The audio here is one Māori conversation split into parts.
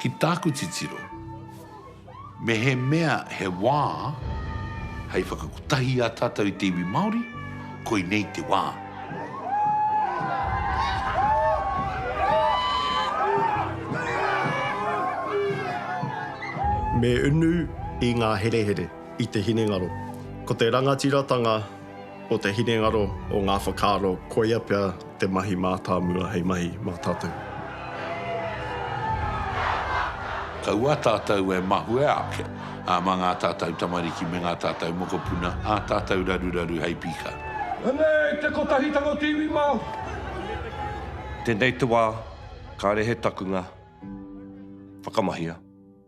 Ki tāku titiro. Mehemea he wā hei whakakotahi ā tātou i te iwi Māori, koinei te wā. Me unu i ngā herehere, i te hinengaro. Ko te rangatiratanga o te hinengaro, o ngā whakaaro, koia pea te mahi mātāmua hei mahi mā tātou. Kaua tātou e mahue ake mā ngā tātou tamariki me ngā tātou mokopuna, ā tātou raruraru hei pika. Anei te Kotahitanga o te iwi Māori. Tēnei te wā, kāre he takunga, whakamahia.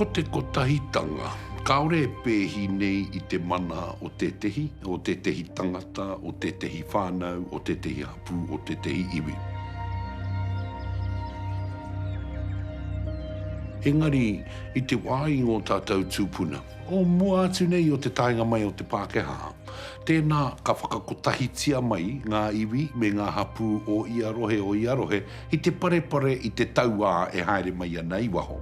Ko te kotahitanga, kāore e pēhi nei i te mana o tētehi, o tētehi tangata, o tētehi whānau, o tētehi hapū. pū o tētehi iwi. Engari, i te wā i ngō tātou tūpuna, o mua atu nei o te taenga mai o te Pākehā, tēnā ka whakakotahitia mai ngā iwi me ngā hapū o ia rohe o ia rohe i te parepare i te tauā e haere mai ana i waho.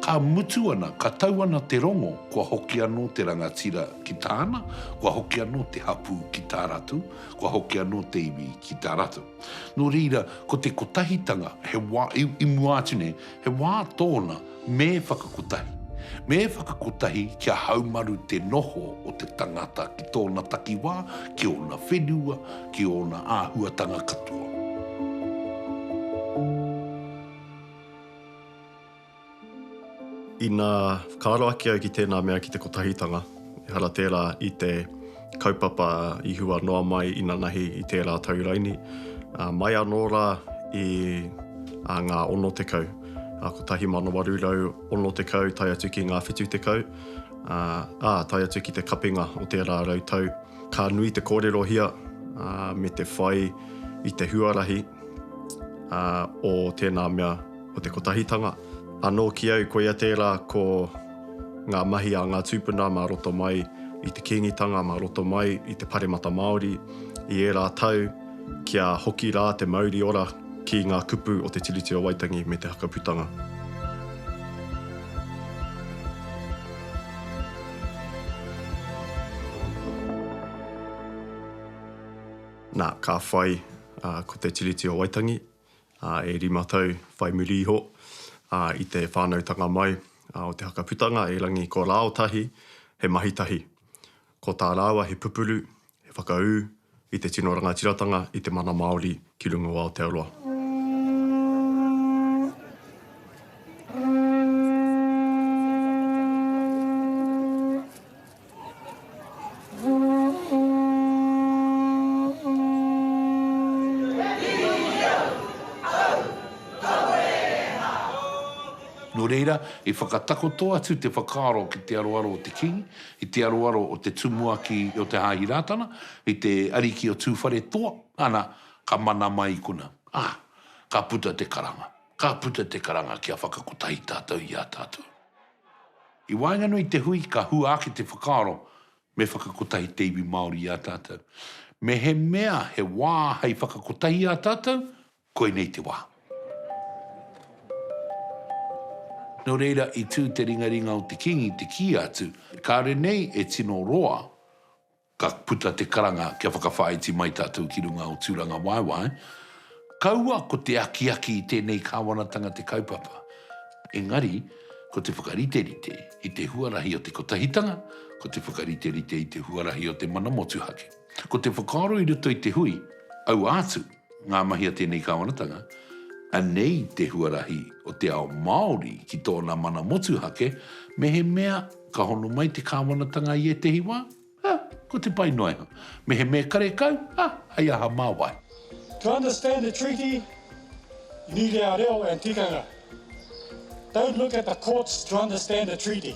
Ka mutu ana, ka tau ana te rongo, kua hoki anō te rangatira ki tāna, kua hoki anō te hapū ki tā rātou, kua hoki anō te iwi ki tā rātou. Nō reira, ko te kotahitanga, he wā, i, i mua atu nei, He wā tōna me whakakotahi. Me whakakotahi kia haumaru te noho o te tangata ki tōna takiwā, ki ōna whenua, ki ōna āhuatanga katoa. Ina whakaaro ake au ki tēnā mea ki te kotahitanga. Ehara tērā i te kaupapa i hua noa mai inanahi i tērā tau raini, ā, mai anō rā i ngā 60, 1860 tae atu ki ngā 70, ā, tae atu ki te kapinga o tērā rau tau. Ka nui te kōrerohia me te whai i te huarahi o tēnā mea, o te kotahitanga. Anō ki au, koia tērā ko. ngā mahi a ngā tūpuna mā roto mai i te Kīngitanga, mā roto mai i te Paremata Māori i ērā tau, kia hoki rā te mauri ora ki ngā kupu o te Tiriti o Waitangi me te Hakaputanga. Nā, ka whai ko te Tiriti o Waitangi. e rima tau whai muri iho i te whānautanga mai o te haka putanga e Rangi ko Rāotahi he mahi tahi. Ko tā rāua he pupuru, he whakaū i te tino rangatiratanga i te mana Māori ki runga o Aotearoa. Nō reira, i whakatakoto atu te whakaaro ki te aroaro o te Kīngi, i te aroaro o te Tumuaki o te Hāhi Rātana, i te Ariki o Tūwharetoa, ana, ka mana mai i konā. Ā, ka puta te karanga. Ka puta te karanga kia whakakotahi tātou i ā tātou. I waenganui i te hui ka hua ake te whakaaro me whakakotahi te iwi Māori i a tātou. Mehemea he wā hei whakakotahi i a tātou, koinei te wā. Nō reira i tū te ringaringa o te Kīngi te kī atu, kāore nei e tino roa Ka puta te karanga kia whakawhāiti mai tātou ki runga o Tūrangawaewae. Kaua ko te akiaki i tēnei kāwanatanga te kaupapa, engari ko te whakariterite i te huarahi o te kotahitanga, ko te whakariterite i te huarahi o te mana motuhake, ko te whakaaro i roto i te hui, aua atu. Ngā mahi a tēnei Kāwanatanga, Anei te huarahi o te ao Māori ki tōna mana motuhake, mehemea ka hono mai te Kāwanatanga i ētehi wā, ā, ko te pai noa iho. Mehemea karekau, ā, hei aha mā wai. To understand the treaty, you need our reo and tikanga. Don't look at the courts to understand the treaty.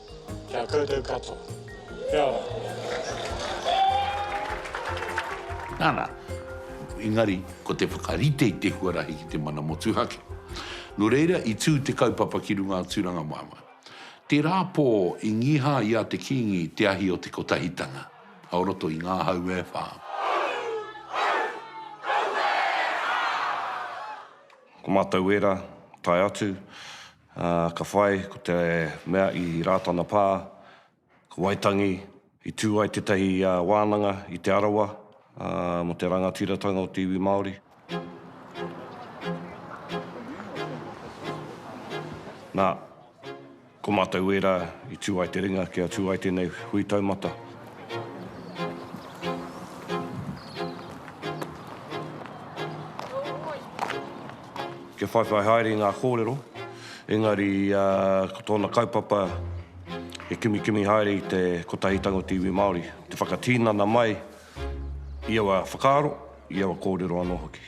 Ki a koutou katoa. Kia ora. Nana, engari ko te whakarite i te huarahi ki te mana motuhake. No reira i tu te kaupapa ki runga a Turanga Mama. Tera po i ngiha i a te Kingi te ahi o te Kotahitanga, o roto i nga hau e wha. Ko matou wera, tae atu. Ā, ka whai, ko te mea i Rātana Pā, ko Waitangi, i tū ai tētahi wānanga i Te Arawa mō te rangatiratanga o te iwi Māori. Nā, ko mātou wērā i tū ai te ringa kia tū ai tēnei hui taumata. Kia whaiwhai haere i ngā kōrero, engari ko tōna kaupapa he kimikimi haere i te Kotahi Tangotu Iwi Māori, te whakatinana mai i aua whakaaro, i aua kōrero anō hoki.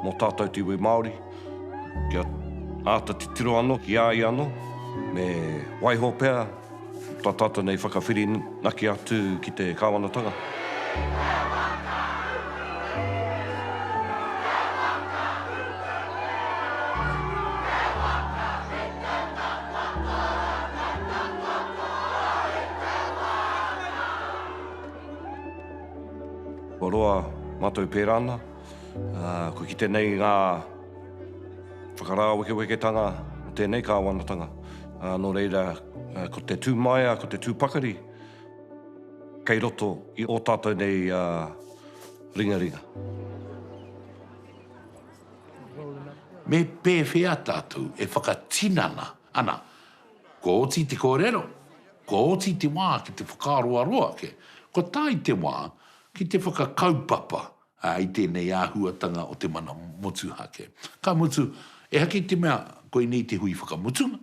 Mō tātou te iwi Māori, kia āta titiro anō ki a ia anō, me waiho pea tā tātou nei whakawhirinaki atu ki te Kāwanatanga. Kia whakarite ngā kōrero i te wā. Kua roa mātou pērā ana. Ko ki tenei ngā whakarāwekeweketanga o tēnei Kāwanatanga. Nō reira, ko te tū maea, ko te tū pakari kei roto i ō tātou nei ringaringa. Me pēwhea tātou e whakatinana ana? Kua oti te kōrero, kua oti te wā ki te whakaaroaro ake, kua tae te wā ki te whakakaupapa ā, i tēnei āhuatanga o te mana motuhake. Ka mutu, ehake i te mea koinei te hui whakamutunga,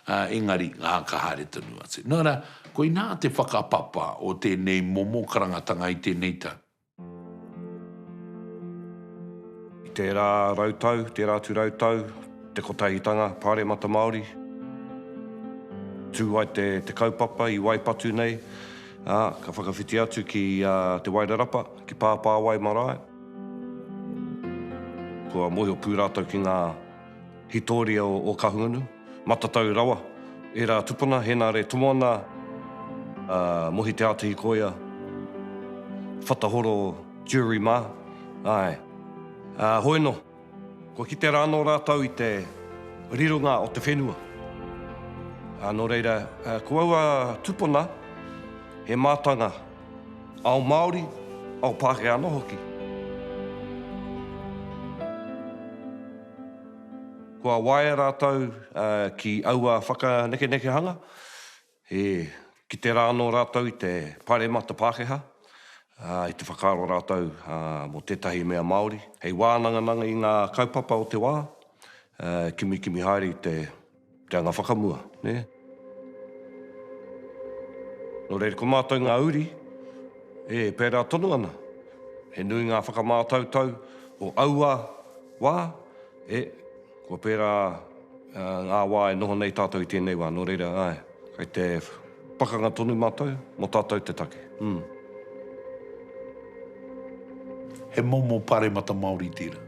ā, engari, ā, ka haere tonu atu. Nō reira, koinā te whakapapa o tēnei momo karangatanga i tēnei tau. I tērā rautau, tērā atu rautau, te Kotahitanga Pāremata Māori, tū ai te, te kaupapa i waipatu nei, ā, ka whakawhiti atu ki, ā, Te Wairarapa. Ki Pāpāwai marae. Kua mōhio pū rātou ki ngā hītoria o Kahungunu. Matatau rawa ērā tupuna, Hēnare Tomoana, Mohi Te Ātihi Koia, Whatahoro Jury mā, āe. Hoi anō. Kua kitea rā anō rātou i te rironga o te whenua. Ā, nō reira, ko aua tupuna, he mātanga ao Māori, ao Pākehā anō hoki. Kua waea rātou ki aua whakanekenekehanga. He kite rā anō rātou i te Pāremata Pākehā, ā, i te whakaaro rātou mō tētahi mea Māori. Hei wānangananga i ngā kaupapa o te wā, e kimikimi haere i te reanga whakamua, nē. Nō reira, ko mātou ngā uri, e pērā tonu ana. He nui ngā whakamātautau o aua wā, e. Kua pērā ngā wā e noho nei tātou i tēnei wā, nō reira, āe, kei te pakanga tonu mātou, mō tātou te take, ū. He momo paremata Māori tērā.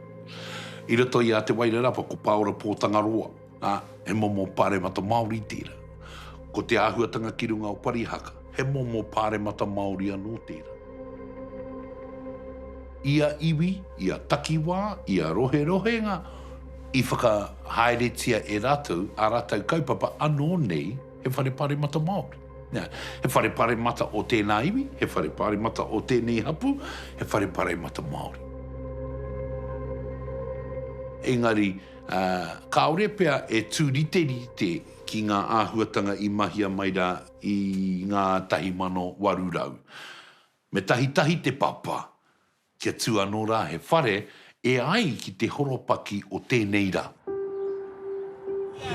I roto i a Te Wairarapa ko Pāora Pōtangaroa, ā, he momo paremata Māori tērā. Ko te āhuatanga ki runga o Parihaka, He momo pāremata Māori anō tērā. Ia iwi, ia takiwā, ia roherohenga i whakahaeretia e rātou ā rātou kaupapa anō nei he whare pāremata Māori. He whare pāremata o tēnā iwi, he whare pāremata o tēnei hapū, he whare pāremata Māori. Engari, kāore pea e tūriterite ki ngā āhuatanga i mahia mai rā. I ngā tahi mano waru rau. Me tahitahi te papa, kia tū anō rā he whare e ai ki te horopaki o tēnei rā.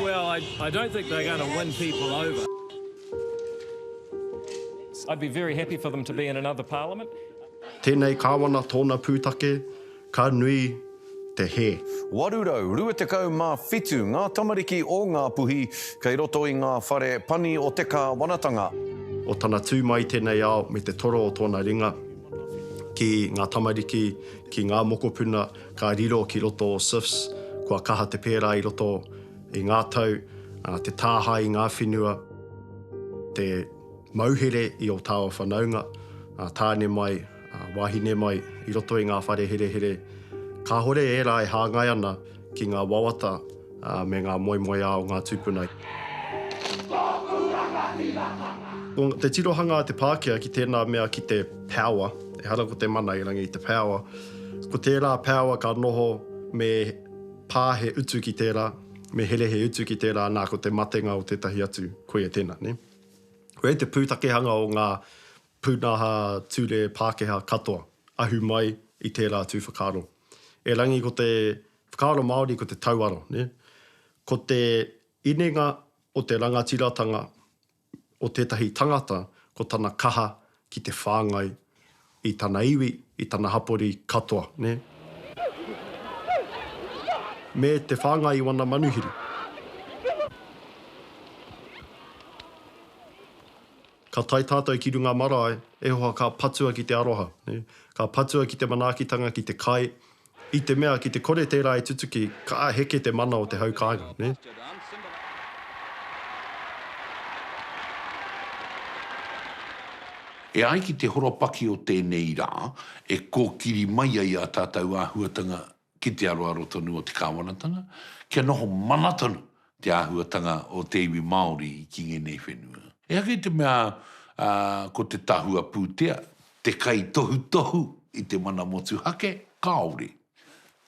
Well, I, I don't think they're going to win people over. I'd be very happy for them to be in another parliament. Tēnei Kāwana tōna pūtake. Ka nui te hē. 827 ngā tamariki o Ngāpuhi kei roto i ngā whare pani o te kāwanatanga. O tana tū mai i tēnei ao me te toro o tōna ringa ki ngā tamariki, ki ngā mokopuna ka riro ki roto o SIFS, kua kaha te pērā i roto i ngā tau, te tāhae i ngā whenua, te. Mauhere i ō tāua whanaunga, ā, tāne mai, ā, wāhine mai, i roto i ngā whare herehere. Kāhore ērā e hāngai ana ki ngā wawata, ā, me ngā moemoeā o ngā tūpuna. Kei tōku rangatiratanga. Ko te tirohanga a te Pākehā ki tēnā mea ki te power, ehara ko te mana i rangi i te power, ko tērā power ka noho me pā he utu ki tērā, me here he utu ki tērā, nā, ko te matenga o tētahi atu, koia tēnā, nē. Koia te pūtakehanga o ngā pūnaha ture Pākehā katoa, ahu mai i tērā tū whakaaro. Erangi ko te whakaaro Māori ko te tauaro, nē? Ko te inenga o te rangatiratanga o tētahi tangata ko tana kaha ki te whāngai i tana iwi, i tana hapori katoa, nē. Me te whāngai i wana manuhiri. Ka tae tātou ki runga marae, e hoa ka patua ki te aroha, nē. Ka patua ki te manaakitanga, ki te kai, I te mea ki te kore tērā e tutuki, ka heke te mana o te hau kāinga, nē. E ai ki te horopaki o tēnei rā, e kōkiri mai ai ā tātou āhuatanga ki te aroaro tonu o te Kāwanatanga, kia noho mana tonu te āhuatanga o te iwi Māori ki ngēnei whenua. Ehake i te mea ko te tahua pūtea te kaitohutohu i te mana motuhake, kāore.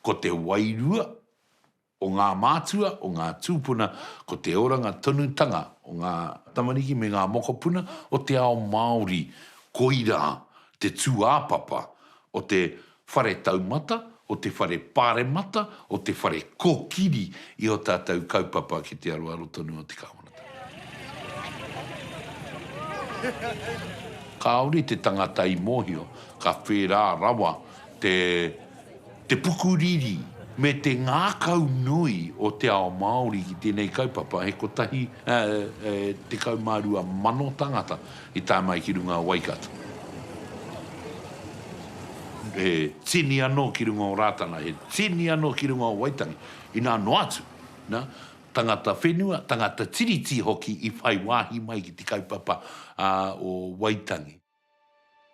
Ko te wairua o ngā mātua, o ngā tūpuna, ko te oranga tonutanga o ngā tamariki me ngā mokopuna o te ao Māori, koirā te tūāpapa o te Whare taumata, o te whare paremata, o te whare kokiri i o tatou kaupapa ki te aroaro tonu o te Kawanatanga. Kaore te tangata i mohio, ka whera rawa te pukuriri me te ngakau nui o te ao Maori ki tenei kaupapa, he kotahi, tekau ma rua mano tangata. I tae mai ki runga o Waikato. He tini anō ki runga o Rātana, he tini anō ki runga o Waitangi, inā noa atu, nā, tangata whenua, tangata Tiriti hoki i whai wāhi mai ki te kaupapa o Waitangi.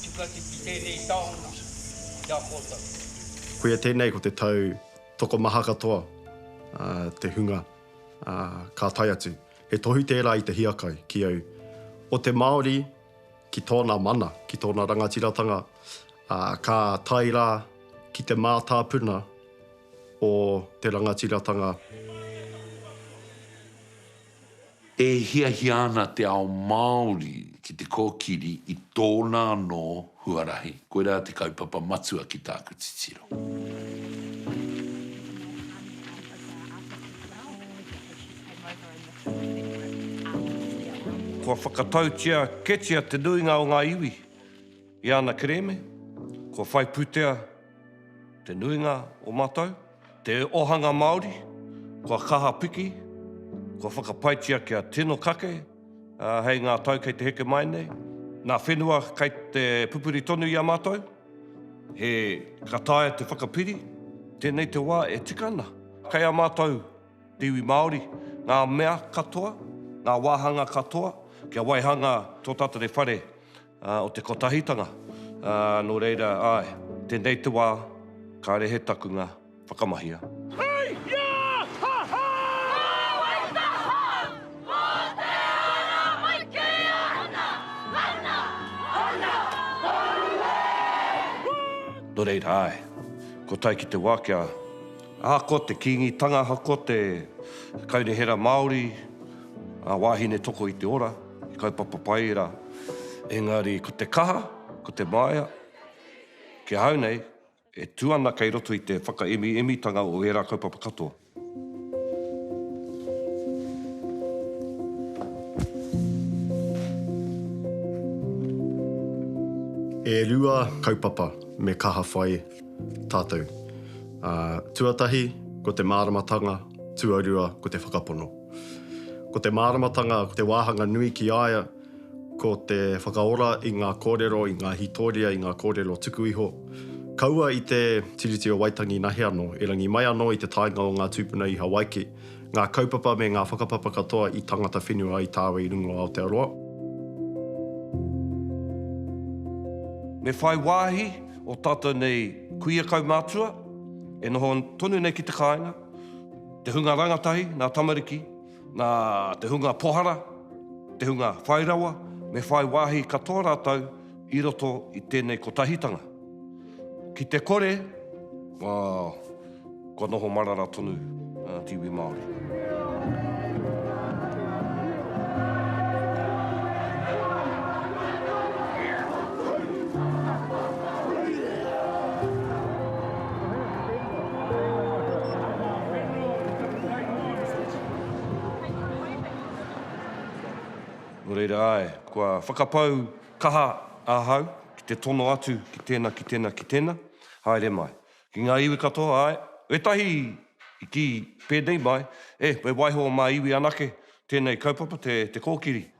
Tika atu ki tēnei taonga ki a koutou. Koia tēnei ko te tau tokomaha katoa te hunga ka tae atu. He tohu tērā i te hiakai ki au o te Māori ki tōna mana, ki tōna rangatiratanga, ā, ka tae rā ki te mātāpuna o te rangatiratanga. E hiahia ana te ao Māori ki te kōkiri i tōna anō huarahi. Koirā te kaupapa matua ki tāku titiro. Kua whakatautia ketia te nuinga o ngā iwi i ana kerēme? Kua whai pūtea te nuinga o mātou? Te Ohanga Māori, kua kaha piki, kua whakapaetia kia tino kake hei ngā tau kei te heke mai nei. Nā whenua kei te pupuri tonu i a mātou, he ka taea te whakapiri, tēnei te wā e tika ana. Kei a mātou te iwi Māori ngā mea katoa, ngā wāhanga katoa kia waihanga tō tātou whare o te kotahitanga, ā, nō reira, āe, tēnei te wā, kāre he takunga, whakamahia. Hei! Ia! Ha! Ha! Kāore taha! Mō te ara mai kē ana! Ana! Ana! Aue! Woo! Nō reira, āe, kua tae ki te wā kia. Ahako te Kīngitanga, ahako te Kaunihera Māori, ngā wāhine toko i te ora. He kaupapa pai rā. Engari ko te kaha, ko te māia, ki ahau nei, e tū ana kei roto i te whakaemiimitanga o ērā kaupapa katoa. E rua kaupapa me kaha whai tātou. Tuatahi, ko te māramatanga, tuarua, ko te whakapono. Ko te māramatanga, ko te wāhanga nui ki a ia, ko te whakaora i ngā kōrero, i ngā hītoria, i ngā kōrero tuku iho. Kaua i te Tiriti o Waitangi nahe anō, erangi mai anō i te taenga o ngā tūpuna i Hawaiki, ngā kaupapa me ngā whakapapa katoa i tangata whenua ai tāua i runga o Aotearoa. Me whai wāhi ō tātou nei kuia kaumātua e noho tonu nei ki te kāinga, Te hunga rangatahi, ngā tamariki, nā te hunga pohara, te hunga whai rawa, me whai wāhi katoa rātou i roto i tēnei kotahitanga. Ki te kore, kua noho marara tonu te iwi Māori. Nō reira, āe, kua whakapau kaha ahau ki te tono atu ki tēnā, ki tēnā, ki tēnā, haere mai. Ki ngā iwi katoa, āe, wētahi i kī pēnei mai, e, me waiho mā iwi anake tēnei kaupapa, te kōkiri.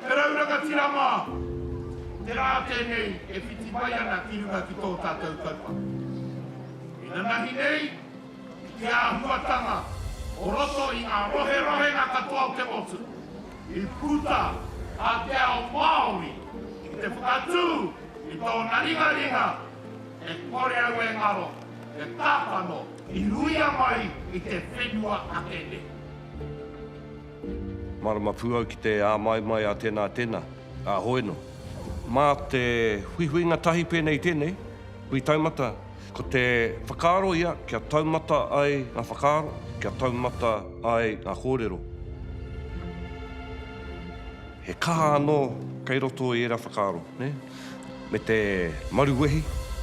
Te rau rangatira mā! Te rā tēnei e whiti mai ana ki runga ki tō tātou kaupapa. E nanahi nei i te āhuatanga o roto i ngā roherohenga katoa o te motu i puta a te ao Māori ki te whakatū i tōna ringaringa e kore au e ngaro te tākano i ruia mai i te whenua ake nei. Mārama pū au ki te āmaimai a tēnā, tēnā, a hoe nō. Mā te huihuinga tahi pēnei i tēnei, hui taumata, ko te whakaaro ia kia taumata ai ngā whakaaro, kia taumata ai ngā kōrero. He kaha anō kei roto i ērā whakaaro, nē? Me te maruwehi,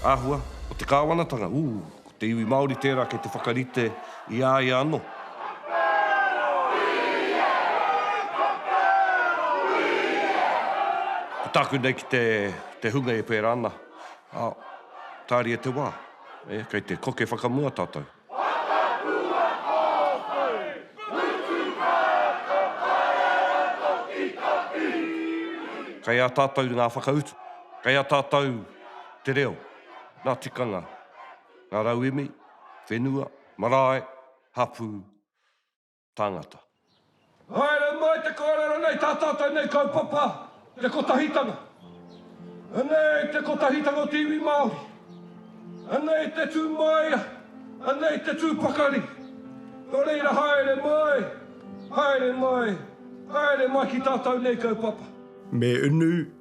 āhua, o te kāwanatanga, ū, Te iwi Māori tērā kei te whakarite i a ia anō. Ko tāku nei ki te hunga e pērā ana, tāria te wā, kei te koke whakamua tātou. Kei a tātou ngā whakautu, kei a tātou te reo, nā tikanga. ngā rauemi, whenua, marae, hapū, tāngata. Haere mai te kōrero nei tātou tēnei kaupapa Te Kotahitanga. Anei te kotahitanga o te iwi Māori. Anei te tū māia, anei te tū pakari. Nō reira haere mai, haere mai, haere mai ki tātou nei kaupapa. Me unu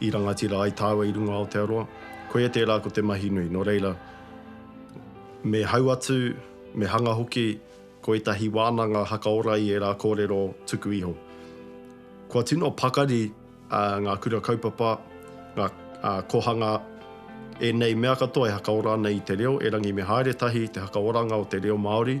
I rangatira ai tāua i runga Aotearoa, koia tērā ko te mahi nui, nō reira, me hau atu, me hanga hoki ko ētahi wānanga hakaora i ērā kōrero tuku iho. Kua tino pakari ngā kura kaupapa, ngā kohanga, ēnei mea katoa e hakaora ana i te reo, erangi me haere tahi te hakaoranga o te reo Māori,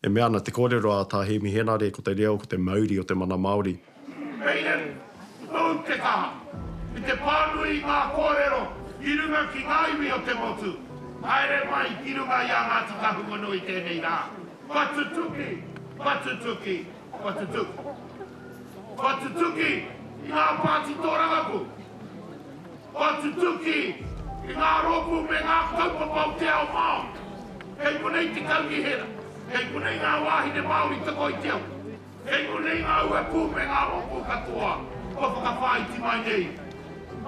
E mea ana te kōrero a Tā Hēmi Henare ko te reo ko te mauri o te mana Māori. Kei au, ōu te kaha. I te pānui i ngā kōrero i runga ki ngā iwi o te motu, haere mai ki runga i a Ngāti Kahungunu i tēnei rā. Kua tutuki, kua tutuki, kua tutuki. Kua tutuki i ngā pāti tōrangapū. Kua tutuki i ngā rōpū me ngā kaupapa o te ao Māori. Kei konei te kaunihera, kei konei ngā wāhine Māori toko i te awa. Kei konei ngā uepū me ngā rōpū katoa kua whakawhāiti mai nei.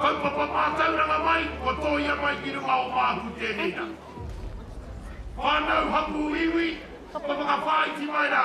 Kaupapa mātauranga mai kua tōia mai ki runga o māku tēnei rā. Whānau hapū iwi kua whakawhāiti mai rā.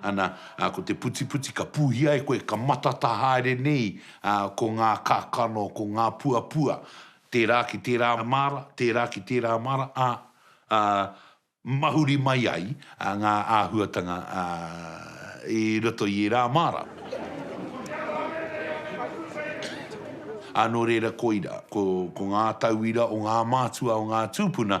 Ana, ā, ko te putiputi ka pūhia e koe, ka matata haere nei, ā, ko ngā kakano, ko ngā puapua, tērā ki tērā māra, tērā ki tērā māra, ā, ā, mahuri mai ai ngā āhuatanga, ā, i roto i ērā māra. Ā, nō reira, koira, ko, ko ngā tauira o ngā mātua, o ngā tūpuna,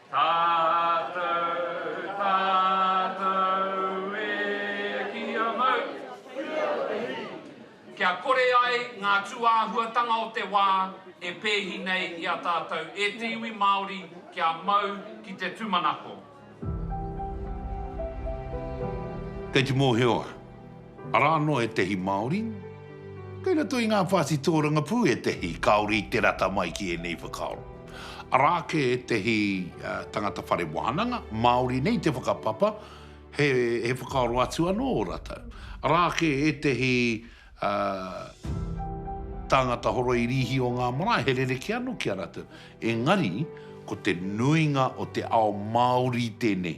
Tātou, tātou e ki a mau. Kia kore ai ngā tūāhuatanga o te wā e pēhi nei i a tātou e te iwi Māori kia mau ki te tūmanako. Kei te mōhio a. Arā anō ētehi Māori. Kei roto i ngā pāti tōrangapū ētehi kāore i te rata mai ki ēnei whakaaro. Arā ake ētehi tangata whare wānanga, Māori nei te whakapapa, he whakaaro atu anō ō rātou. Arā ake ētehi tāngata horoi rīhi o ngā marae, he rerekē anō ki a rātou. Engari, ko te nuinga o te ao Māori tēnei.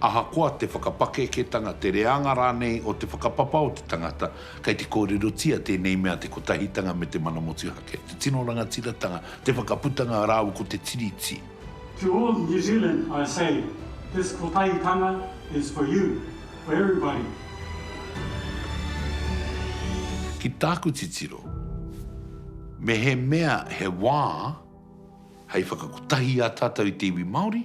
Ahakoa te whakapakeketanga, te reanga rānei o te whakapapa o te tangata, kei te kōrerotia tēnei mea te kotahitanga me te mana motuhake, te tino rangatiratanga, te whakaputanga rāua ko te Tiriti. To all New Zealand I say, this kotahitanga is for you, for everybody. Ki tāku titiro, mehemea he wā hei whakakotahi i a tātou i te iwi Māori,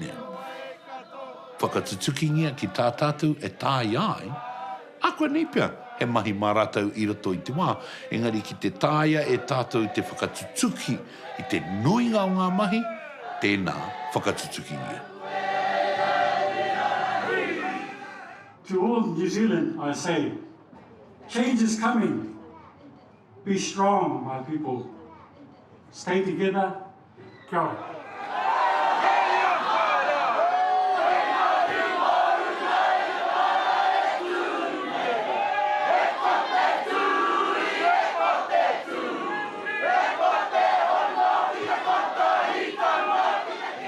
Nē. Whakatutukingia ki tā tātou e taea ai, ākuanei pea he mahi mā rātou i roto i te wā, engari ki te taea e tātou te whakatutuki i te nuinga o ngā mahi, tēnā, whakatutukingia. To all New Zealand I say, change is coming, be strong my people, stay together, Kia ora.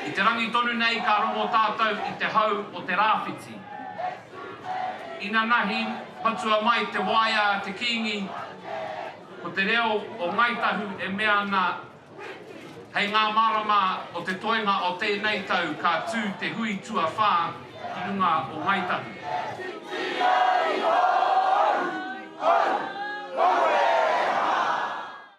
I te rangi tonu nei ka rongo tātou i te hau o te rāwhiti. Inanahi patua mai te waea a te Kīngi, ko te reo o Ngāi Tahu e mea ana Hei ngā marama o te toenga o tēnei tau ka tū te hui tuawhā ki runga o Ngāi Tahu.